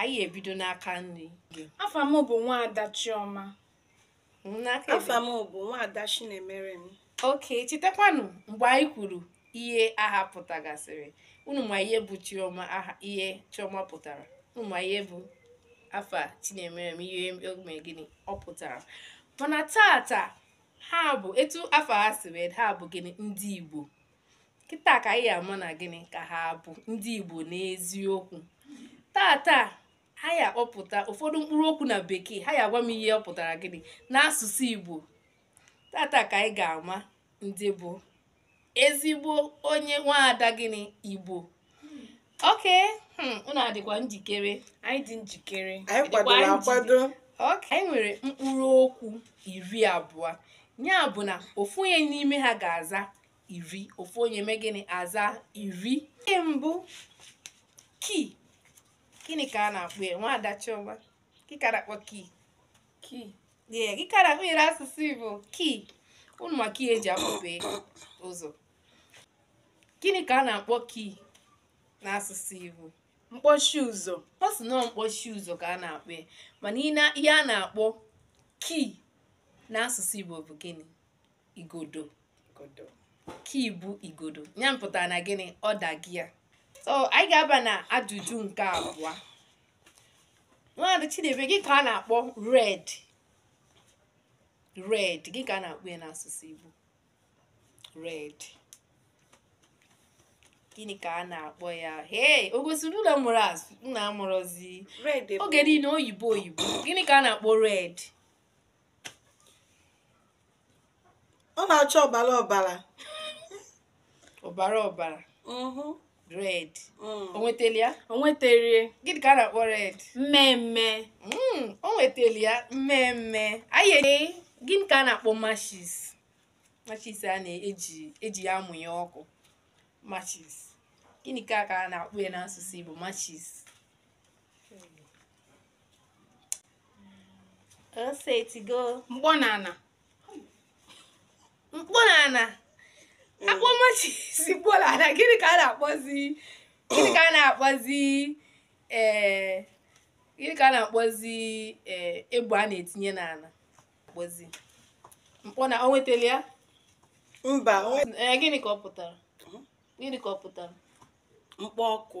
anyị ebido n'aka nri gị afa m bụ nwaada chioma n'aka afa m bụ nwaada chinemerem okay chetakwanụ mgbe anyị kwuru ihe aha pụtagasịrị unu ma ihe bụ chioma aha ihe chioma pụtara unu ma ihe bụ afa chinemerem ihe o me gịnị ọ pụtara mana tata ha bụ etu afa ha si wee ha bụ gịnị ndị igbo kịta ka anyị ama na gịnị ka ha bụ ndị Igbo n'eziokwu tata ha ya akpọpụta ụfọdụ mkpụrụ okwu na bekee ha ya agwa m ihe ọ pụtara gịnị n'asụsụ Igbo tata ka anyị ga-ama ndị bụ ezigbo onye nwaada gịnị Igbo okay hmm, unu adịkwa njikere anyị dị njikere anyị kwadoro akwado anyị nwere mkpụrụ okwu iri abụọ ya bụ na ofu onye n'ime ha ga-aza iri ofu onye mee gịnị aza iri nke mbụ key gịnị ka a na-akpọ ya nwaada chioma gị ka a na-akpọ key key ee gị ka a na-akpọ ya n'asụsụ igbo key unu ma key e ji akpọpe ụzọ gịnị ka a na-akpọ key n'asụsụ igbo mkpọchi ụzọ ọ sị na ọ mkpọchi ụzọ ka a na-akpọ ya mana ihe a na-akpọ key n'asụsụ igbo bụ gịnị igodo igodo key bụ igodo ya pụtara na gịnị ọ dago ya so anyị ga-aba na ajụjụ nke abụọ nwaada Chineme gị ka a na-akpọ red red gị ka a na-akpọ ya n'asụsụ Igbo red gịnị ka a na-akpọ ya hei o gosiri na ụmụ azị na-amụrụzi oge niile oyibo oyibo gịnị ka a na-akpọ red ọ na-acha ọbara ọbara ọbara ọbara mhm. red mm. o nwetara ya o nwetara gịnị ka a na-akpọ red mmee mmee mm, o nwetara ya mmee mmee anyị ee gịnị ka a na-akpọ matches matches a na-eji e ji ya amụnye ọkụ matches gịnị ka a ka a na-akpọ ya n'asụsụ Igbo matches o chetago mkpọ n'ana mkpọ n'ana a kpọọ matches mkpọ n'ana gịnị ka a na-akpọzi gịnị ka a na-akpọzi ee gịnị ka a na-akpọzi ee egbe a na-etinye n'ala kpọzi mkpọ na o nwetara ya mba ee gịnị ka ọ pụtara gịnị ka ọ pụtara mkpọ ọkụ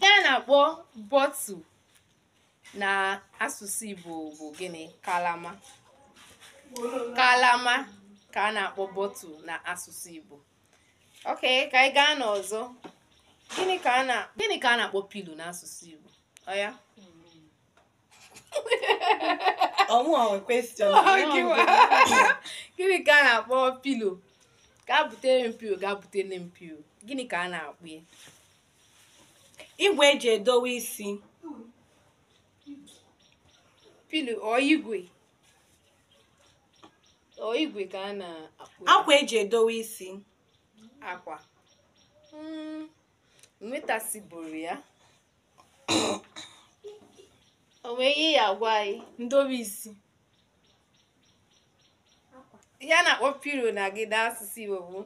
ihe a na-akpọ bottle na asụsụ Igbo bụ gịnị kalama kalama ka a na-akpọ bottle na asụsụ Igbo ok ka anyị gaa n'ọzọ gịnị ka a na-akpọ pillow n'asụsụ Igbo ọya ọmụ ahụ question gịnị ka a na-akpọ pillow gaa butere m pillow gaa butere m pillow gịnị ka a na-akpọ ya igwe eji edowe isi pillow ọ igwe ọ igwe ka a na-akpọ ya akwa eji edowe isi akwa Mm, nwetasibụrụ ya o nwere ihe ya agwa anyị ndobe isi ihe a na-akpọ pillow na gị na asụsụ Igbo bụ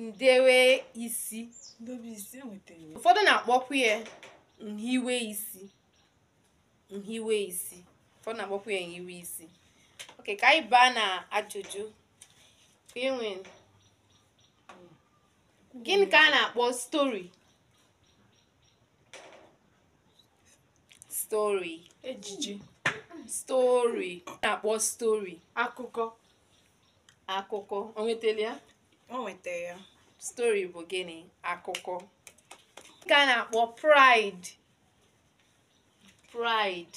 ndewe isi ndobe isi enwetara m. ụfọdụ na-akpọkwu ya nhiwe isi nhiwe isi ụfọdụ na-akpọkwu ya nhiwe isi ok ka anyị baa na ajụjụ ka enwe gịnị ka a na-akpọ story story ejije story a na-akpọ story akụkọ akụkọ o nwetara ya o nweta ya story bụ gịnị akụkọ nke a na-akpọ pride pride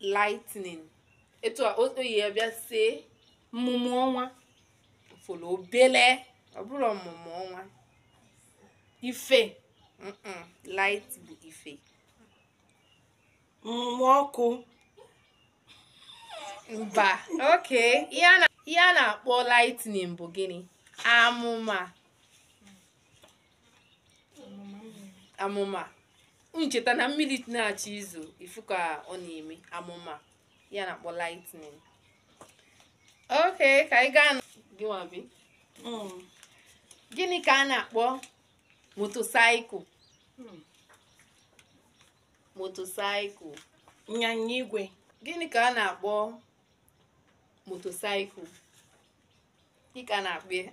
lightning etu a o o yi ya bịa see mmụmụ ọnwa fụrụ obele ọ bụrụ ọmụmụ ọnwa ife mm-mm, light bụ ife mmụmụ ọkụ mba ok ihe a na- ihe a na-akpọ lightning bụ gịnị amụma amụma ncheta na mmiri na-achọ izo ị fụ ka ọ na-eme amụma ya na-akpọ lightning ok ka anyị gaa na- gị nwa bịa. gịnị ka a na-akpọ motorcycle motorcycle ịnyịnya igwe gịnị ka a na-akpọ motorcycle gịnị ka a na-akpọ ya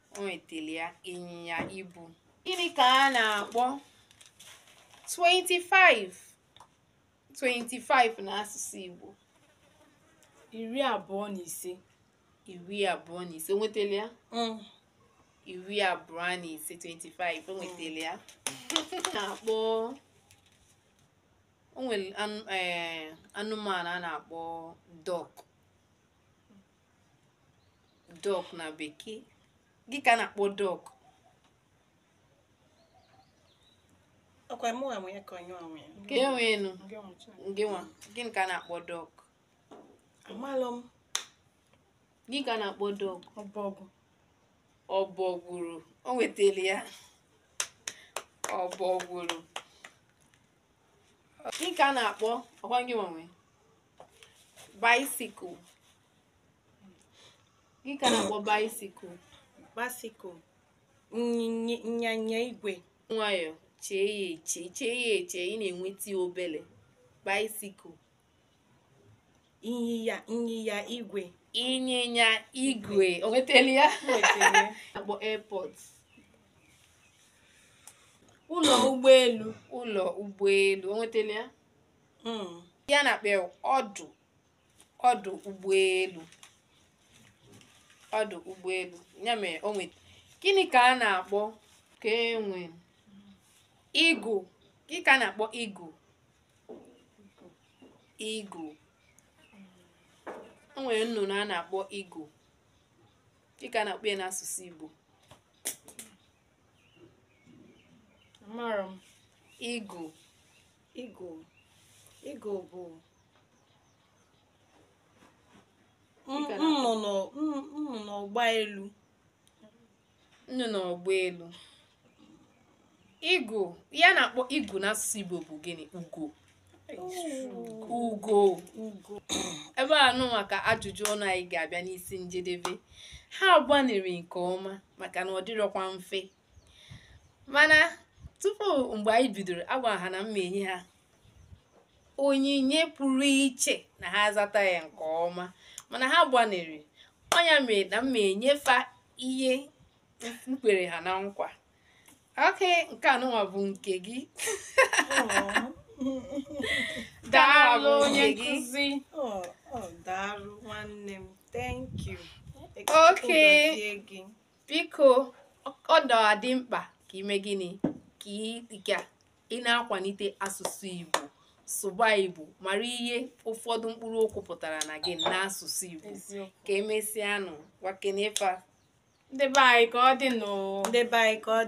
o nwetara ya ịnyịnya ibu gịnị ka a na-akpọ 25 25 n'asụsụ Igbo iri abụọ na ise iri abụọ na ise o nwetara ya mm. iri abụọ na ise 25 o nwetara ya na-akpọ o nwere eh, anụmanụ a na-akpọ duck duck na bekee gịnị ka a na-akpọ duck ọ kwa mụ nwa nwunye ka onye onwe ka e nwee enu Ndị ọmụ Chineke. gị nwa gịnị ka a na-akpọ duck amalụ m gịnị ka a na-akpọ duck ọbọgwụ ọbọgwụrụ o nwetara ya ọbọgwụrụ gịnị ka a na-akpọ ọ kwa gị nwa nwe bicycle gịnị ka a na-akpọ bicycle bicycle nnyịnya- ịnyịnya igwe nwayọọ chee ya eche chee ya eche ị na-enweta ya obele bicycle ịnyịnya ịnyịnya igwe ịnyịnya igwe o nwetara ya akpọ airport ụlọ ụgbọelu ụlọ ụgbọelu o nwetara ya hmm. ihe a na-akpọ ọdụ ọdụ ụgbọelu ọdụ ụgbọelu ya mere o nweta gịnị ka a na-akpọ ka e nwee eagle gịnị ka a na-akpọ eagle eagle o nwere nnụnụ a na-akpọ eagle gịnị ka a na-akpọ ya n'asụsụ Igbo Amara m. eagle eagle. eagle bụ Ị gara- nnụnụ nnụnụ ọgba elu nnụnụ ọgba elu eagle ihe a na-akpọ eagle n'asụsụ Igbo bụ gịnị ugo ugo ugo ebe anụnwa ka ajụjụ ọnụ anyị ga-abịa n'isi njedebe ha gbanịrị nke ọma maka na ọ dịrọkwa mfe mana tupu mgbe anyị bidoro agwara ha na m ma-enye ha onyinye pụrụ iche ma ha zata ya nke ọma mana ha gbanịrị ọ nya mere na m ma-enye fa ihe m kwere ha na nkwa okay nke anụnwa bụ nke gị daalụ onye nkụzi daalụ nwanne m thank you okay biko ọ dị mkpa ka i mee gịnị ka ị ị na-akwalite asụsụ Igbo sụba Igbo mara ihe ụfọdụ mkpụrụ okwu pụtara na gị n'asụsụ Igbo ka emesịa nụ gwakene fa ndị be anyị ka ọ dị nụ ndị be anyị ka ọ dị